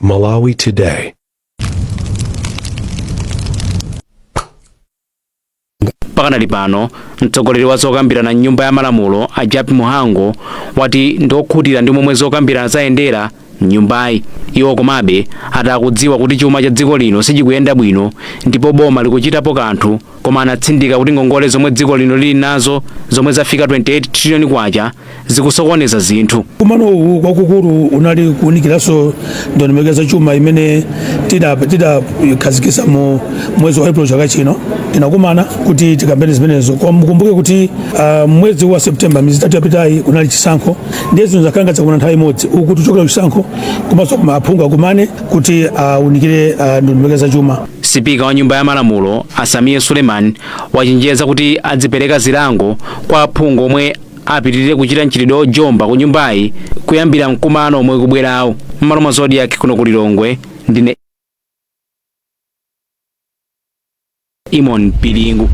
Malawi Today. pakanali pano mtsogoleri wa zokambirana mnyumba ya malamulo a Jappie Mhango wati ndi okhutira ndi momwe zokambirana zayendera mnyumbayi iwo komabe ati akudziwa kuti chuma cha dziko lino sichikuyenda bwino ndipo boma likuchitapo kanthu koma anatsindika kuti ngongole zomwe dziko lino lili nazo zomwe zafika 28 trillion kwacha zikusokoneza zinthu mkumano uwu kwakukulu unali kuunikiranso ndondomeko za chuma imene tidakhazikisa mu mwezi wa april chaka chino tinakumana kuti tikambene zimenezo koma mukumbuke kuti ah, mwezi wa september miyezi itatu yapitayi kunali chisankho ndiye zinthu zakhala ngati zakumana nthawi imodzi uku tikuchokera kuchisankho komanso kumafunika aphungu akumane kuti aunikire ah, ndondomeko za chuma Sipika wa nyumba ya malamulo a Sameer Suleman wachenjeza kuti azipereka zilango kwa aphungu omwe apitirire kuchita mchitidwe ojomba ku nyumbayi kuyambira mkumano omwe ukubwerawu. M'malo mwa Zodiac kuno ku Lilongwe ndine Eamon Piringu.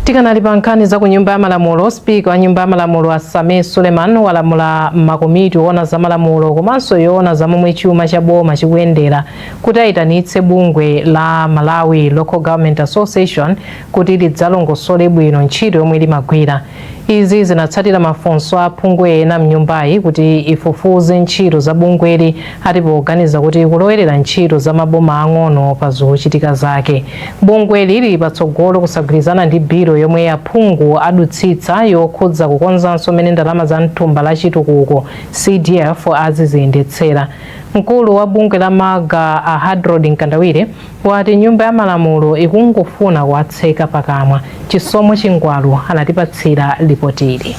tikanali pa nkhani za ku nyumba ya malamulo sipika wa nyumba ya malamulo a Sameer Suleman walamula makomiti oona za malamulo komanso yoona za momwe chuma cha boma chikuyendera kuti ayitanitse bungwe la Malawi Local Government Association kuti lidzalongosole bwino ntchito yomwe limagwira. Izi zinatsatira mafunso a aphungu ena mnyumbayi kuti ifufuze ntchito za bungweli ati poganiza kuti likulowerera ntchito za maboma ang'ono pa zochitika zake. Bungweli lili patsogolo kusagwirizana ndi bilo yomwe aphungu adutsitsa yokhudza kukonzanso mmene ndalama za mthumba la chitukuko CDF aziziyendetsera. Mkulu wa bungwe la Malga a Hadrod Mkandawire wati nyumba ya malamulo ikungofuna kuwatseka pakamwa. Chisomo Chingwalu anatipatsira lipotili.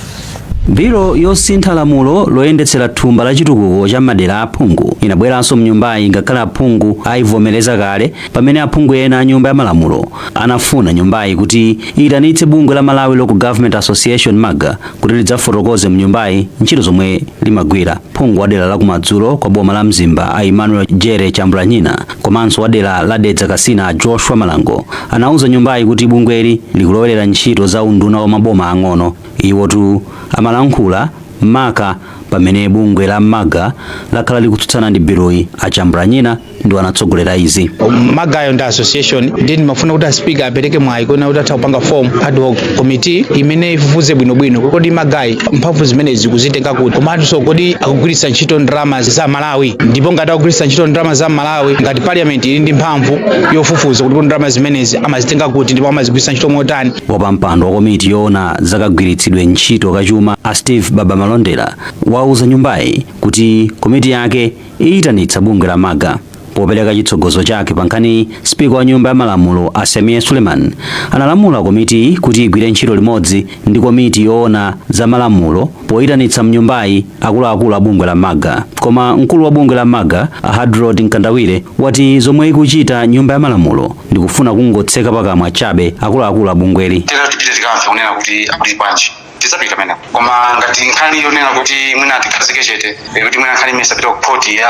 Bilo yosintha lamulo loyendetsera thumba la chitukuko cha m'madera a aphungu inabweranso mnyumbayi ngakhale aphungu ayivomereza kale pamene aphungu ena a nyumba ya malamulo anafuna nyumbayi kuti iyitanitse bungwe la Malawi Local Government Association MALGA kuti lidzafotokoze mnyumbayi ntchito zomwe limagwira. Phungu wa dera la kumadzulo kwa boma la Mzimba a Emmanuel Jere Chambulanyina komanso wa dera la Dedza Kasina a Joshua Malango anauza nyumbayi kuti bungweli likulowerera ntchito za unduna wa maboma ang'ono. Iwotu amalankhula maka pamene bungwe la MALGA lakhala likutsutsana ndi biluyi. A Chambulanyina ndiwo anatsogolera izi MALGA-yo ndi association ndiye ndimafuna kuti a sipika apereke mwayi kunena kuti atha kupanga form ad hoc committee imene ifufuze bwinobwino kodi MALGA-yi mphamvu zimenezi ikuzitenga kuti komanso kodi akugwiritsa ntchito ndalama za Amalawi ndipo ngati akugwiritsa ntchito ndalama za Amalawi ngati parliament ili ndi mphamvu yofufuza kuti kodi ndalama zimenezi amazitenga kuti ndipo amazigwiritsa ntchito motani wapampando wa komiti yoona zakagwiritsidwe ntchito kachuma a steve baba malondera wauza nyumbayi kuti komiti yake iyitanitsa bungwe la maga. Popereka chitsogozo chake pa nkhaniyi, Spika wa Nyumba ya Malamulo a Sameer Suleiman analamula komitiyi kuti igwire ntchito limodzi ndi komiti yoona za malamulo poyitanitsa m'nyumbayi akuluakulu a bungwe la maga. Koma mkulu wa bungwe la maga a Hadrod Mkandawire wati zomwe ikuchita Nyumba ya Malamulo ndi kufuna kungotseka pakamwa chabe akuluakulu a bungweli. Tera tipite tikamve kunena kuti akuti bwanji tizapita kumene koma ngati nkhani yonena kuti mwina tikhazike chete eh, kuti mwina nkhani imeneyi sipita ku khoti ya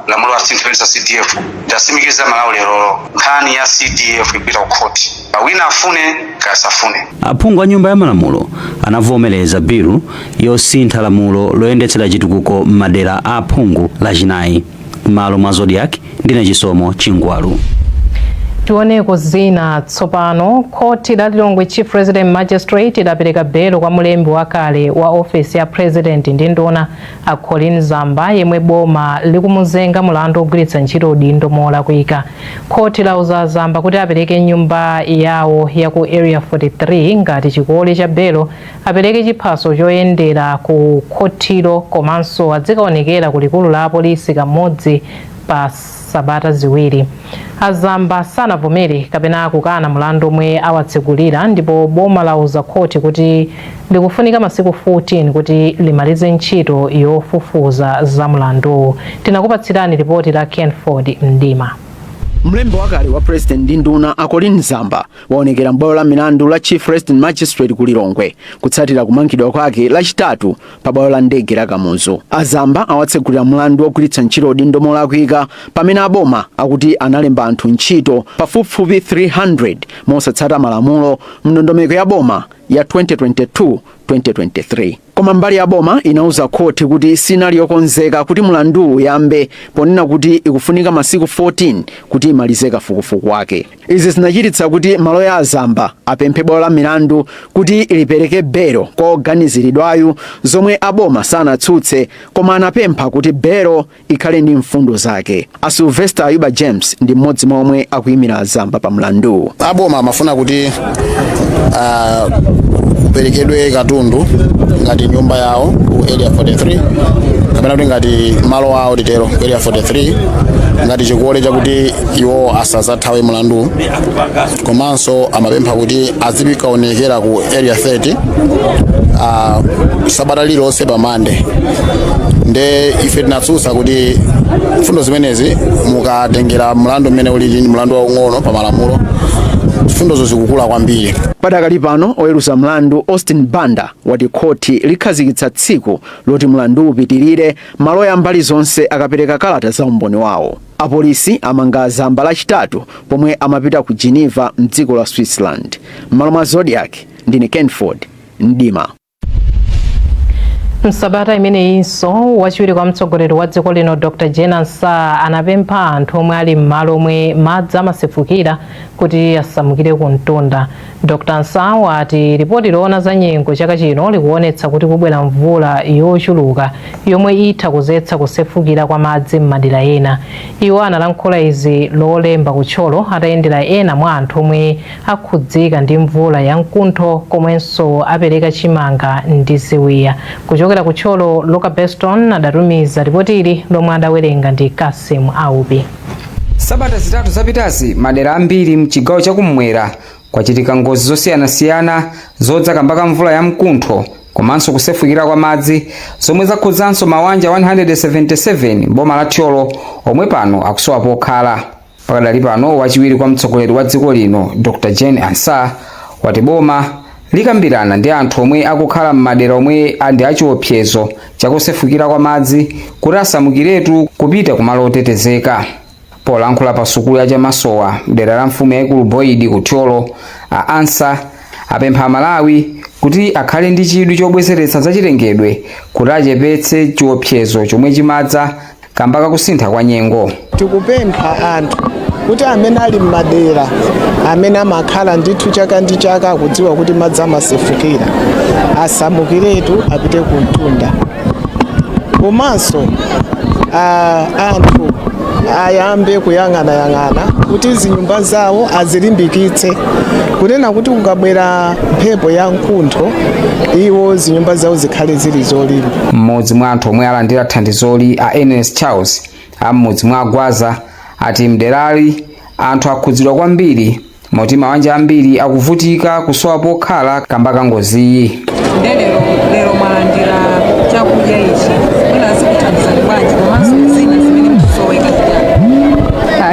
lamulo la zinthu zimenezi za cdf ndasimikiza malawi lero nkhani ya cdf ikupita ku khoti wina afune kasafune aphungu a nyumba ya malamulo anavomereza bilu yosintha lamulo loyendetsera chitukuko m'madera a aphungu lachinayi m'malo mwa Zodiak ndine Chisomo Chingwalu. Tioneko zina tsopano. Khoti la Lilongwe Chief Resident Magistrate lapereka belo kwa mlembi wakale wa ofesi ya President ndi nduna a Colleen Zamba yemwe boma likumuzenga mulandu ogwiritsa ntchito udindo molakwika. Khoti lauza a Zamba kuti apereke nyumba yawo ya ku Area 43 ngati chikole cha belo apereke chiphaso choyendera ku khothilo komanso adzikaonekera ku likulu la polisi kamodzi pa sabata ziwiri. A Zamba sanavomere kapena kukana mulandu omwe awatsegulira ndipo boma lauza khoti kuti likufunika masiku 14 kuti limalize ntchito yofufuza za mulanduwu. Tinakupatsirani lipoti la Kenford Mdima. Mlembi wakale wa president ndi nduna a Colleen Zamba waonekera m'bwalo la milandu la chief resident magistrate ku lilongwe kutsatira kumangidwa kwake lachitatu pa bwalo la ndege la kamuzu a zamba awatsegulira mlandu wogwiritsa ntchito udindo molakwika pamene a boma akuti analemba anthu ntchito pafupifupi 300 mosatsata malamulo mndondomeko ya boma ya 2022 2023 Koma mbali ya boma inauza khoti kuti sinali yokonzeka kuti mlanduwu uyambe ponena kuti ikufunika masiku 14 kuti imalize kafukufuku wake. Izi zinachititsa kuti maloya a a Zamba apemphe bwalo la milandu kuti lipereke belo kwa woganiziridwayu zomwe a boma sanatsutse koma anapempha kuti belo ikhale ndi mfundo zake. A Sylvester Ayuba James ndi mmodzi mwa omwe akuyimira a Zamba pa mlanduwu. A boma amafuna kuti ah, kuperekedwe katundu ngati nyumba yawo ku area 43 kapena kuti ngati malo awo titero ku area 43 ngati chikole chakuti iwo asazathawe mlandu komanso amapempha kuti azikaonekera ku area 30 uh, sabata lililonse pa mande nde ife tinatsutsa kuti mfundo zimenezi mukatengera mlandu umene ulili ndi mlandu waung'ono pa malamulo mfundozo zikukula kwambiri padakali pano oweruza mlandu austin banda wati khoti likhazikitsa tsiku loti mlandu upitirire maloya a mbali zonse akapereka kalata za umboni wawo Apolisi amanga a Zamba Lachitatu pomwe amapita ku Geneva mdziko la Switzerland. M'malo mwa Zodiak, ndine Kenford Mdima. Msabata imeneyinso wachiwiri kwa mtsogoleri wa dziko lino Dr Jane Ansah anapempha anthu omwe ali m'malo omwe madzi amasefukira kuti asamukire ku mtunda. Dr Ansah wati lipoti loona za nyengo chaka chino likuonetsa kuti kubwera mvula yochuluka yomwe itha kudzetsa kusefukira kwa madzi m'madera ena. Iwo analankhula izi lolemba ku Thyolo atayendera ena mwa anthu omwe akhudzika ndi mvula ya mkuntho komwenso apereka chimanga ndi ziwiya. Kuchokera ku Thyolo, Luka Beston adatumiza lipotili lomwe adawerenga ndi Cassim Aubi. Sabata zitatu zapitazi, madera ambiri m'chigawo cha kummwera kwachitika ngozi zosiyanasiyana zodza kamba ka mvula ya mkuntho komanso kusefukira kwa madzi zomwe zakhudzanso mawanja 177 m'boma la Thyolo omwe pano akusowa pokhala. Pakadali pano wachiwiri kwa mtsogoleri wa dziko lino Dr Jane Ansah wati boma likambirana ndi anthu omwe akukhala m'madera omwe a- ndi achiopsezo chakusefukira kwa madzi kuti asamukiretu kupita kumalo otetezeka polankhula pa sukulu ya chamasowa mdera la mfumu yaikulu boyidi ku thyolo a Ansah apempha amalawi kuti akhale ndi chidwi chobwezeretsa zachilengedwe kuti achepetse chiopsezo chomwe chimadza kamba kakusintha kwa nyengo tikupempha anthu kuti amene ali m'madera amene amakhala ndithu chaka ndi chaka akudziwa kuti madzi amasefukira asamukiretu apite ku mtunda komanso ah, anthu ayambe kuyang'anayang'ana kuti zinyumba zawo azilimbikitse kunena kuti kukabwera mphepo ya mkuntho iwo zinyumba zawo zikhale zili zolimba M'modzi mwa anthu omwe alandira thandizoli a Ernest Charles a m'mudzi mwa Gwaza ati mderali anthu akhudzidwa kwambiri moti mawanja ambiri akuvutika kusowa pokhala kamba ka ngoziyi. nde lero lero mwalandira chakudya ichi mwina zikuthandizani bwanji komanso zina zimene mukusoweka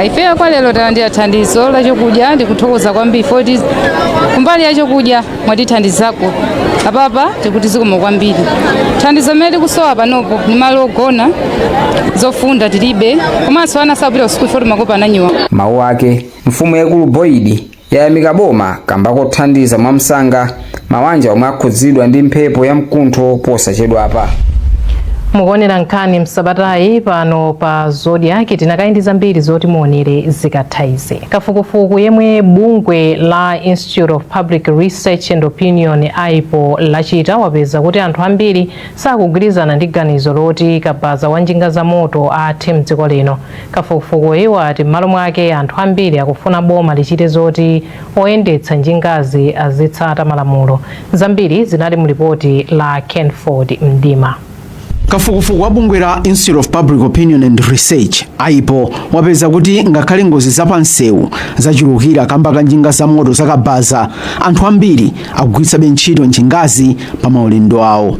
ife kwa lero talandira thandizo la chakudya ndikuthokoza kwambiri foti kumbali ya chakudya mwatithandizako apapa tikuti zikomo kwambiri thandizo limene tikusowa panopo ni malo ogona zofunda tilibe komanso ana sapita kusukulu poti makopa ananyowa mawu ake mfumu yayikulu boyidi yayamika boma kamba kothandiza mwamsanga mawanja omwe akhudzidwa ndi mphepo ya mkuntho posachedwapa mukuonera nkhani msabatayi pano pa zodiac tikadali ndi zambiri zoti muonere zikatha izi kafukufuku yemwe bungwe la Inst- Institute of Public Research and Opinion AIPO lachita wapeza kuti anthu ambiri sakugwirizana ndi ganizo loti kabaza wa njinga za moto athe mdziko lino. Kafukufukuyu ati m'malo mwake anthu ambiri akufuna boma lichite zoti oyendetsa njingazi azitsata malamulo. Zambiri zinali mu lipoti la Kenford Mdima. kafukufuku wa bungwe la institute of public opinion and research aipo wapeza kuti ngakhale ngozi zapansewu zachulukira kamba ka njinga za moto zakabaza anthu ambiri akugwiritsabe ntchito njingazi pa maulendo awo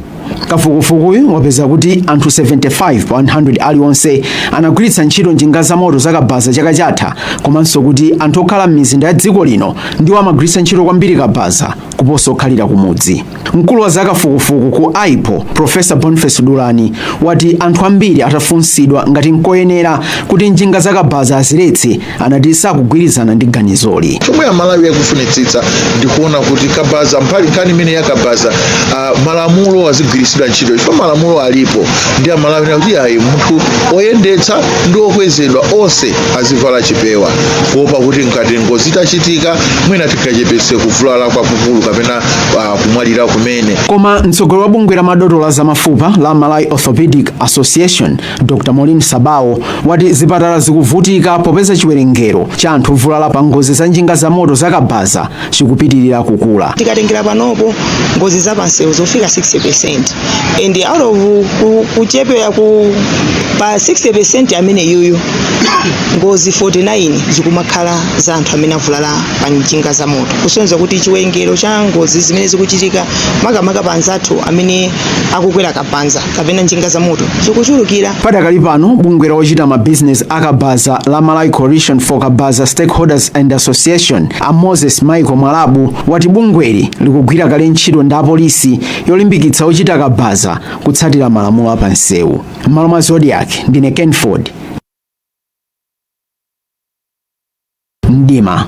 kafukufukuyu wapeza kuti anthu 75 pa 100 aliwonse anagwiritsa ntchito njinga za moto zakabaza chaka chatha komanso kuti anthu okhala m'mizinda ya dziko lino ndiwo amagwiritsa ntchito kwambiri kabaza kuposa okhalira kumudzi Mkulu wa zakafukufuku ku Aipo, Professor Boniface Dulani, wati anthu ambiri atafunsidwa ngati nkoyenera kuti njinga zakabaza aziletse, anati sakugwirizana ndi ganizoli. Chomwe Amalawi akufunitsitsa ndikuona kuti kabaza pali nkhani imene yakabaza uh, malamulo azigwiritsidwa ntchito chifukwa malamulo alipo ndi Amalawi akuti ayi munthu oyendetsa ndi okwezedwa onse azivala chipewa kuopa kuti ngati ngozi itachitika mwina tingachepetse kuvulala kwakukulu kapena uh, kumwalira kumene koma mtsogoleri wa bungwe la madotolo a zamafupa la malawi orthopedic association dr maureen sabawo wati zipatala zikuvutika popeza chiwerengero cha anthu ovulala pa ngozi za njinga za moto zakabaza chikupitirira kukula tikatengera panopo ngozi za pansewu zofika 60% and out of ku- kuchepera ku pa 60% amene yuyu ngozi 49 zikumakhala za anthu amene avulala pa njinga za moto kusonyeza kuti chiwerengero cha ngozi zimene zikuchitika makamaka pa anzathu amene akukwera kabanza kapena njinga za moto zikuchulukira padakali pano bungwe la ochita mabizinesi akabaza la malawi coalition for kabaza stakeholders and association a moses michael mwalabu wati bungweli likugwira kale ntchito ndi apolisi yolimbikitsa ochita kabaza kutsatira malamulo a pansewu m'malo mwa zodiac ndine kenford mdima.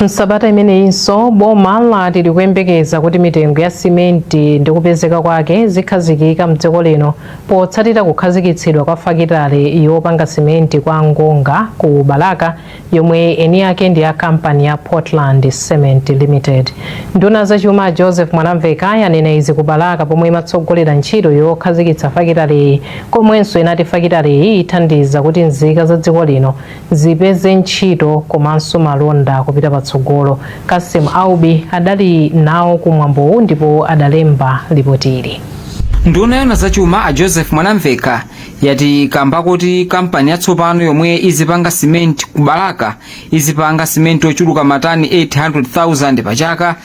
Msabata imeneyinso boma lati likuyembekeza kuti mitengo ya simenti ndi kupezeka kwake zikhazikika mdziko lino potsatira kukhazikitsidwa kwa fakitale yopanga simenti kwa Ngonga ku Balaka yomwe eni ake ndi a kampani ya Portland Cement Limited. Nduna ya zachuma a Joseph Mwanamveka yanena izi ku Balaka pomwe imatsogolera ntchito yokhazikitsa fakitaleyi komwenso inati fakitaleyi ithandiza kuti nzika za dziko lino zipeze ntchito komanso malonda kupita patsogolo. Cassim Aubi adali nawo ku mwambowu ndipo adalemba lipotili. nduna yona zachuma a joseph mwanamveka yati kamba koti kampani yatsopano yomwe izipanga simenti ku balaka izipanga simenti ochuluka matani 800,000 pa chaka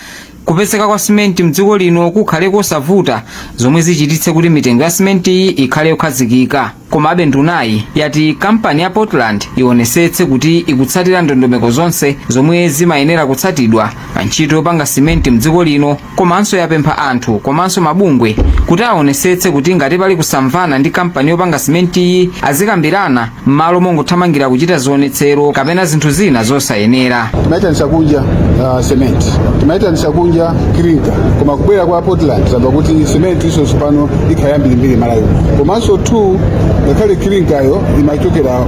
Kupezeka kwa simenti mdziko lino kukhale kosavuta zomwe zichititse kuti mitengo ya simentiyi ikhale yokhazikika. Komabe ndunayi yati kampani ya Portland ionesetse kuti ikutsatira ndondomeko zonse zomwe zimayenera kutsatidwa pa ntchito yopanga simenti mdziko lino komanso yapempha anthu komanso mabungwe kuti aonesetse kuti ngati pali kusamvana ndi kampani yopanga simentiyi azikambirana m'malo mongothamangira kuchita zionetsero kapena zinthu zina zosayenera timaitanisa kunja uh, cement timaitanisa kunja kirinka koma kubwera kwa portland zayamba kuti cement iso tsopano ikhala yambirimbiri malawi komanso two ngakhale kirinkayo imachokera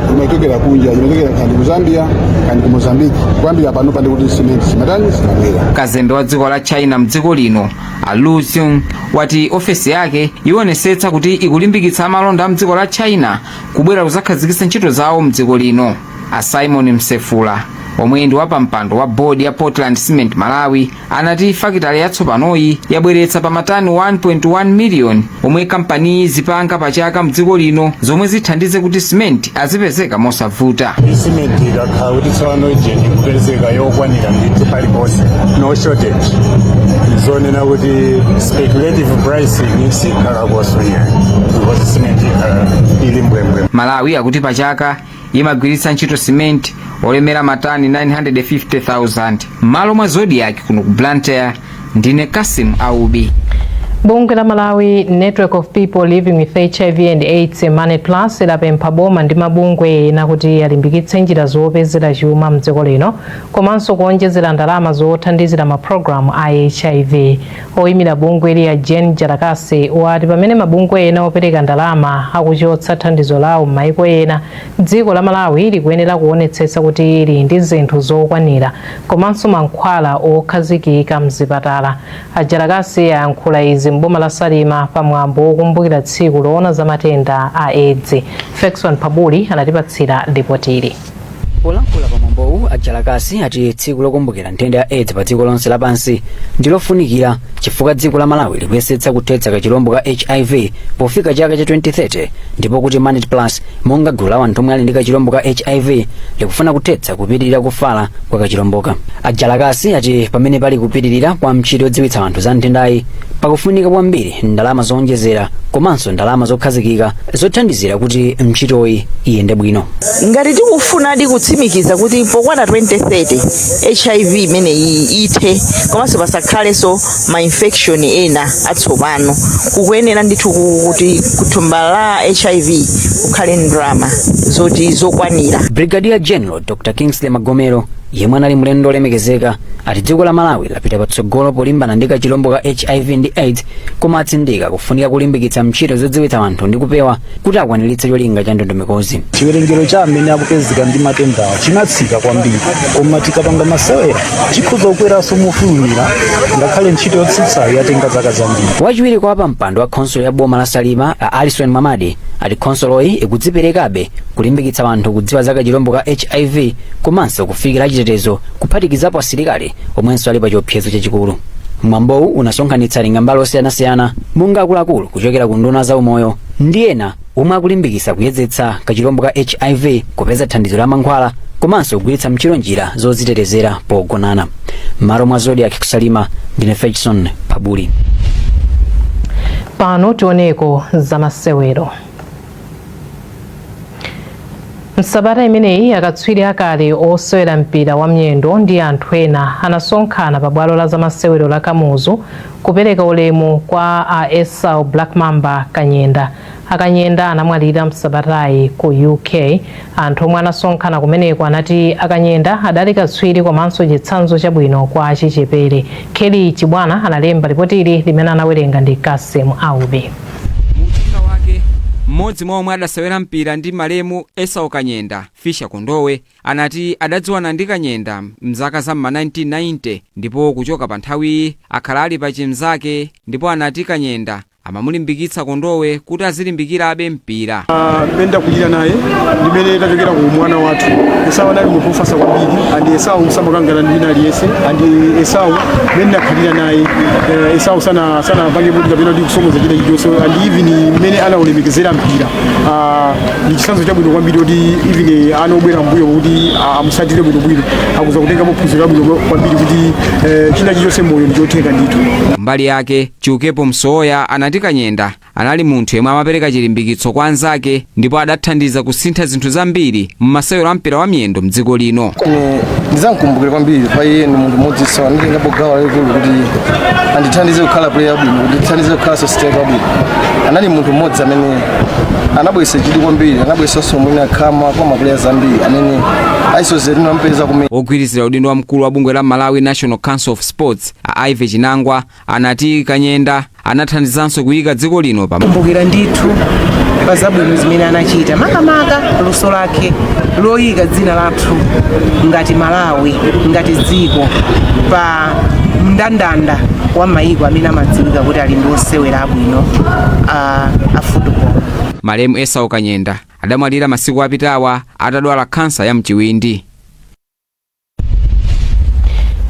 kunja imachokera kandi ku zambia kandi ku mozambique kuyambira pano pande kuti cement simatani simabwera kazembe wa dziko la china mdziko lino a lu xing wati ofesi yake ionesetsa kuti ikulimbikitsa amalonda a mdziko la china kubwera kuzakhazikitsa ntchito zawo mdziko lino a simon msefula omwe ndi wapampando wa bodi ya portland cement malawi anati fakitale yatsopanoyi yabweretsa pa matani 1.1 miliyoni omwe kampaniyi izipanga pa chaka mdziko lino zomwe zithandize kuti simenti azipezeka mosavuta simenti ikakhala kuti tsopano ijeni ikupezeka yokwanira ndithu paliponse no shortage zonena kuti speculative pricing sikhala malawi akuti pachaka imagwiritsa ntchito simenti olemera matani 950,000 m'malo mwa zodiak kuno ku blantyre ndine cassim aubi bungwe la malawi network of people living with hiv and aids manet plus lapempha boma ndi mabungwe ena kuti alimbikitse njira zopezera chuma mdziko lino komanso kuonjezera ndalama zothandizira mapulogalamu a hiv Oyimira bungweli a Jane Jalakasi wati pamene mabungwe ena opereka ndalama akuchotsa thandizo lawo m'maiko ena, dziko la Malawi likuyenera kuonetsetsa kuti lili ndi zinthu zokwanira komanso mankhwala okhazikika m'zipatala. A Jalakasi ayankhula izi m'boma la Salima pa mwambo wokumbukira tsiku lowona za matenda a Edzi. Fexon Pabuli anatipatsira lipotili. polankhula pa mwambowu a jalakasi ati tsiku lokumbukira nthenda ya aids pa dziko lonse lapansi ndilofunikira chifukwa dziko la malawi likuyesetsa kuthetsa kachilombo ka hiv pofika chaka cha 2030 ndipo kuti manet plus monga gulu la anthu omwe ali ndi kachilombo ka hiv likufuna kuthetsa kupitirira kufala kwa kachilomboka a jalakasi ati pamene pali kupitirira kwa ntchito yodziwitsa anthu za nthendayi pakufunika kwambiri ndalama zowonjezera komanso ndalama zokhazikika zothandizira kuti ntchitoyi iyende bwino ngati tikufunadi kutsimikiza kuti pokwana 2030 hiv imeneyi ithe komanso pasakhalenso ma infection ena atsopano kukuyenera ndithu ku- kuti kuthumba la hiv kukhale ndalama zoti zokwanira brigadier general dr kingsley magomero yemwe anali mlendo olemekezeka ati dziko la malawi lapita patsogolo polimbana ndi kachilombo ka hiv ndi aids koma atsindika kufunika kulimbikitsa ntchito zodziwitsa anthu ndi kupewa kuti akwaniritse cholinga cha ndondomekozi chiwerengero cha amene akupezeka ndi matendawa chinatsika kwambiri koma tikapanga masewera chikhoza kukweranso mofulumira ngakhale ntchito yotsitsayo yatenga zaka zambiri wachiwiri kwa wapampando wa khonsolo ya boma la salima a alison mamadi ati khonsoloyi ikudziperekabe kulimbikitsa anthu kudziwa za kachilombo ka hiv komanso kufikira achitetezo kuphatikizapo asilikali omwenso ali pa chiopsezo chachikulu mwambowu unasonkhanitsa atengambali osiyanasiyana monga akuluakulu kuchokera ku nduna za umoyo ndi ena omwe akulimbikitsa kuyezetsa kachilombo ka hiv kupeza thandizo la mankhwala komanso kugwiritsa ntchito njira zozitetezera pogonana mmalo mwa zodiac ku salima ndine fechson pabuli pano tioneko zamasewero Msabata imeneyi akatswiri akale osewera mpira wa miyendo ndi anthu ena anasonkhana pa bwalo la zamasewero la Kamuzu kupereka ulemu kwa a Esau Black Mamba Kanyenda. Akanyenda anamwalira msabatayi ku UK. Anthu omwe anasonkhana kumeneko anati Akanyenda adali katswiri komanso chitsanzo chabwino kwa achichepere. Kelly Chibwana analemba lipotili limene anawerenga ndi Kasim Aubi. Mu uthenga wake, m'modzi mwa omwe adasewera mpira ndi malemu Esau Kanyenda, Fischer Kondowe, anati adadziwana ndi Kanyenda m'zaka za m'ma 1990 ndipo kuchoka pa nthawiyi akhala ali pa chimzake ndipo anati Kanyenda amamulimbikitsa Kondowe kuti azilimbikirabe mpira. mmene takulira naye ndimene tachokera ku umwana wathu esau anali munthu wofasa kwambiri andi esau samakangana ndi wina aliyense andi esau mmene nakhalira naye eh, esau sana- sanapange kuti kapena kuti kusonyeza chida chilichonse andi even mmene anaulemekezera mpira ah, ndi chitsanzo chabwino kwambiri kuti even ana obwera mbuyo kuti ah, amusatire bwinobwino akhoza kutengapo phunziro labwino kwambiri kuti eh, china chilichonse moyo ndichotheka ndithu kumbali yake chiukepo msowoya anati kanyenda Anali munthu yemwe amapereka chilimbikitso kwa anzake ndipo adathandiza kusintha zinthu zambiri mu masewero a mpira wa miyendo mdziko lino. Ine ndizamkumbukira kwambiri poti iye ndi munthu mmodziso anatengako gawo lalikulu kuti andithandize kukhala player wabwino kuti ndithandize kukhala striker wabwino anali munthu mmodzi amene anabweretsa chidwi kwambiri anabweretsanso mwina khama kwa maplayers ambiri amene amasewera tinampeza kumene Wogwirizira udindo wa mkulu wa bungwe la Malawi National Council of Sports a Ivy Chinangwa anati Kanyenda anathandizanso kuyika dziko lino pa kumbukira ndithu pa zabwino zimene anachita makamaka luso lake loyika dzina lathu ngati malawi ngati dziko pa mndandanda wa mayiko amene amadziwika kuti ali ndi osewera abwino a, a football Malemu Esau Kanyenda adamwalira masiku apitawa atadwala khansa ya mchiwindi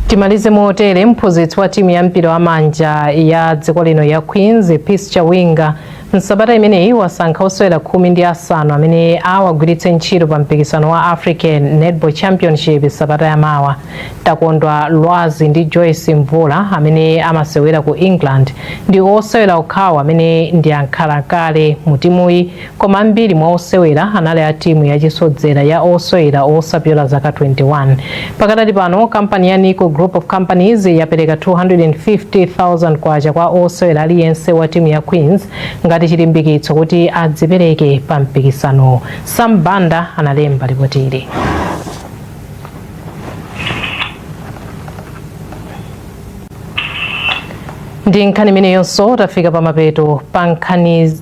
Timalize motere mphunzitsi wa timu ya mpira wa manja ya dziko lino ya Queens Peace Chawinga msabata imeneyi wasankha osewera khumi ndi asanu amene awagwiritse ntchito pa mpikisano wa African Netball Championship sabata ya mawa. Takondwa Lwazi ndi Joyce Mvula amene amasewera ku England ndi osewera okhawo amene ndi ankhalakale mu timuyi Koma ambiri mwa osewera anali a timu ya chisodzera ya osewera osapyola zaka 21. Pakadali pano, kampani ya Nico Group of Companies yapereka K250,000 kwa osewera aliyense wa timu ya Queens ngati chilimbikitso kuti adzipereke pa mpikisanowu. Sam Banda analemba lipotili. Ndi nkhani imeneyonso tafika pa mapeto pa nkhani